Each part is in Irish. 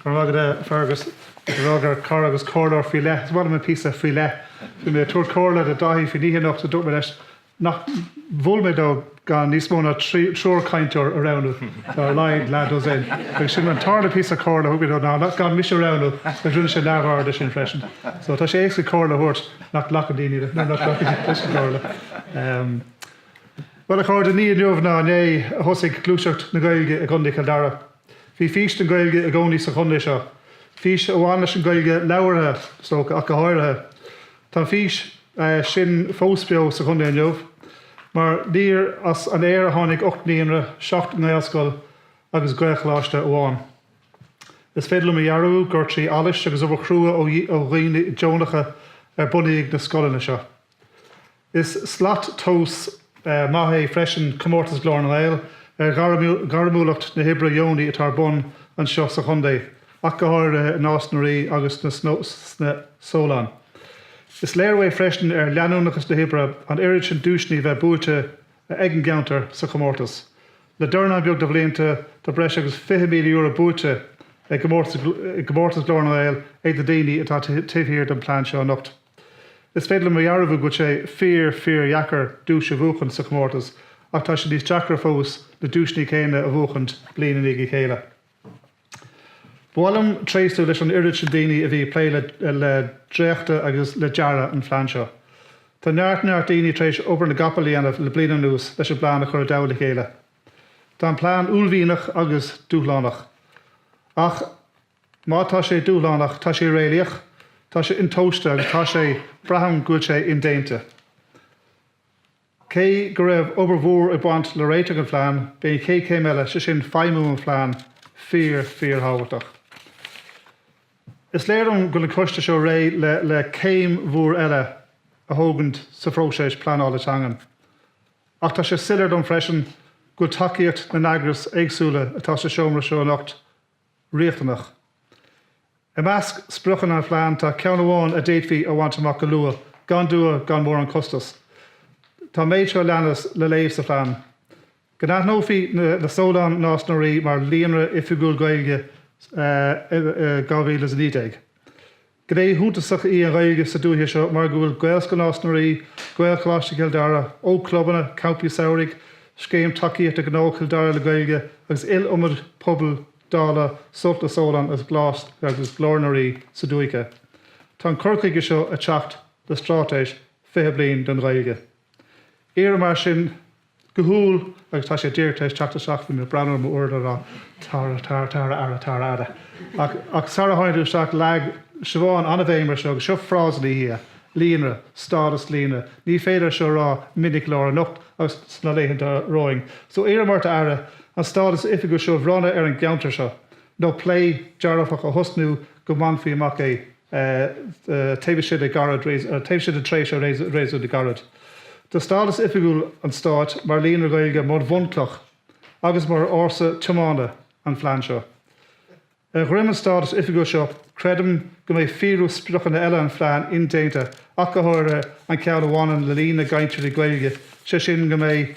Go raibh maith agat, Fergus. Is breá gur cara agus comhairleoir faoi leith. Is maith liom an píosa 'faoi leith'. Bhí mé ag tabhairt comhairle do Dáithí faoin oíche anocht a dúirt mé leis nach bhfúil mé dó gan níos mó ná trí triúr cainteoir a roghnú, tá ar a laghad leathdhosaen. Agus sin an tarna píosa comhairle a thug mé dó ná ná gan mise a roghnú agus rinne sé neamhaird de sin freisin. So tá sé éasca comhairle a thabhairt nach nglacann daoine nuair nach nglacann daoine leis an gcomhairle. Bhuel, a chairde, ní inniu ná inné a thosaigh gluaiseacht na Gaeilge i gContae Chill Dara. Bhí fís don Ghaeilge i gcónaí sa chontae seo, fís a bhain leis an Ghaeilge labhartha, is dócha, ach go háirithe. Tá an fís sin fós beo sa chontae inniu, mar níor as an aer a tháinig ocht naíonra, seacht ngaelscoil agus gaelcholáiste amháin. Is féidir liom a dhearbhú gur trí allas agus obair chrua ó dhaoine deonacha ar bunaíodh na scoileanna seo. Is slat tomhais maith é freisin comórtas Ghlór na nGael ar ghairmiúlacht na hoibre dheonaí atá ar bun anseo sa chontae, ach go háirithe i Nás na Rí agus sna Solláin. Is léiriú é freisin ar leanúnachas na hoibre an oiread sin duaiseanna a bheith buaite ag an gceantar sa chomórtas, le dornán beag de bhlianta tá breis agus €20,000 buaite i gcomórtas Ghlór na nGael ag na daoine atá taobh thiar den phlean seo anocht. Is féidir liom a dhearbhú go bhfuil sé fíor, fíordheacair duais a bhuachaint sa chomórtas ach tá sé níos deacra fós na duaiseannaí céanna a bhuachaint bliain i ndiaidh a chéile. Ba mhaith liom tréaslú leis an oiread sin daoine a bhí ag plé le dréachtadh agus le dearadh an phlean seo. Tá neart, neart daoine tar éis obair na gcapall a dhéanamh le bliain anuas leis an bplean a chur i dtoll a chéile. Tá an plean uaillmhianach agus dúshlánach ach. Má tá sé dúshlánach, tá sé réalaíoch, tá sé intomhaiste agus tá sé, braithim go bhfuil sé, indéanta. Cé go raibh obair mhór ag baint le réiteach an phlean, beidh an chéad chéim eile, sé sin feidhmiú an phlean, fíor, fíorthábhachtach. Is léir dom go bhfuil an coiste seo réidh le céim mhór eile a thógaint sa phróiseas pleanála teangan. Ach tá sé soiléir dom freisin go bhfuil tacaíocht na n-eagras éagsúla atá sa seomra seo anocht, riachtanach. I measc spriocanna an phlean tá ceann amháin a d'fhéadfaí a bhaint amach go luath gan dua gan mórán costais. Tá an méid seo a leanas le léamh sa phlean, Go n-aithneofaí na Solláin Nás na Rí mar Líonra Oifigiúil Gaeilge in 2019. Gné shuntasach í an Ghaeilge sa dúiche seo mar go bhfuil Gaelscoil Nás na Rí, Gaelcholáiste Chill Dara, ógchlubanna, campaí samhraidh, Scéim Tacaíochta Gnó Chill Dara le Gaeilge agus iliomad pobail dála Sult na Sollán agus Glór na Rí sa dúiche. Tá an cur chuige seo ag teacht le Straitéis 20 Bliain don Ghaeilge. Iarraim mar sin, go humhal agus tá sé díreach tar éis teacht isteach bhí mé ag breathnú ar m'uaireadóir á Tara Tara Tara ara Tara ara ach ach sara tháinig tú isteach leag Siobhán an-bhéim ar seo agus seo frása ina dhiaidh, líonra, stádas líonra, ní féidir é seo a rá minic go leor anocht agus sna laethanta romhainn so iarraim ort a Aire an stádas oifigiúil seo a bhronnadh ar an gceantar seo nó plé dearfach a thosnú go mbainfí amach é. taobh istigh de gairid taobh istigh de tréimhse réasúnta gairid. Tá stádas oifigiúil an Stáit mar Líonra Gaeilge mar bhunchloch agus mar fhórsa tiomána an Phlean seo. Ar dhroim an stádas oifigiúil seo, creidim go mbeidh fíorú spriocanna eile an Phlean indéanta ach go háirithe an ceann a bhaineann le líon na gcainteoirí Gaeilge, sé sin go mbeidh.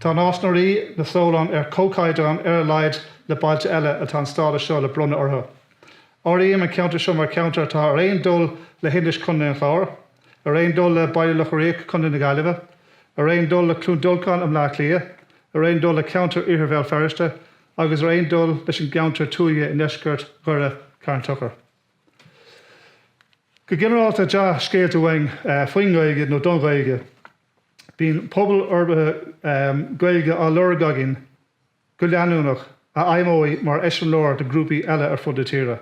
Tá Nás na Ríogh, na Solláin ar chomhchaighdeán ar a laghad le bailte eile atá an stádas seo le bronnadh orthu. Áirím an ceantar seo mar cheantar atá ar aon dul le hInis, Co. an Chláir, ar aon dul le Baile Locha Riach, Co. na Gaillimhe, ar aon dul le Cluain Dolcáin i mBleá Cliath, ar aon dul le ceantar Iarthar Bhéal Feirste agus ar aon dul leis an gceantar tuaithe i ndeisceart Dhoire, Carn Tochair. Go ginearálta, dea-scéalta uainn faoin nGaeilge nó don Ghaeilge. Bíonn pobail fhorbartha Gaeilge á lorg againn go leanúnach, a fheidhmeoidh mar eiseamláir do ghrúpaí eile ar fud na tíre.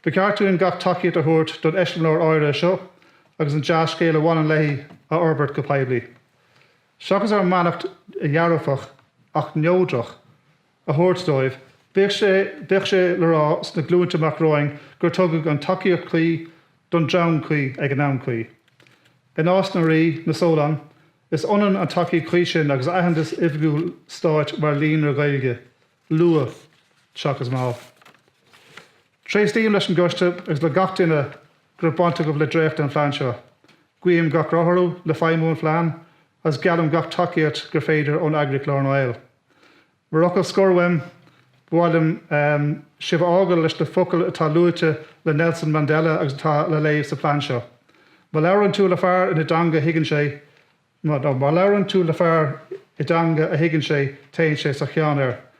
Ba cheart dúinn gach tacaíocht a thabhairt don eiseamláir áirithe seo agus an dea-scéal a bhaineann léi a fhorbairt go poiblí, seachas ár mbeannacht dhearfach ach neodrach. a thabhairt dóibh. Bíodh sé le rá sna glúinte amach romhainn gur tugadh an tacaíocht chuí don dream cuí ag an am cuí. I Nás na Ríogh, na Sollán, is ionann an tacaíocht chuí sin agus aitheantas oifigiúil stáit mar líonra Ghaeilge, luath seachas mall. Tréaslaím leis an gcoiste agus le gach duine go raibh baint acu le dréachtadh an phlean seo. Guím gach rath orthu le feidhmiú an phlean is geallaim gach tacaíocht gur féidir ón eagraíocht Glór na nGael. Mar fhocal scoir uaim, ba mhaith liom sibh a fhágáil leis na focail atá luaite le Nelson Mandela agus atá le léamh sa plean seo, Má labhrann tú le fear ina dteanga a thuigeann sé, no, má labhrann tú le fear i dteanga a thuigeann sé, téann sé sa cheann air.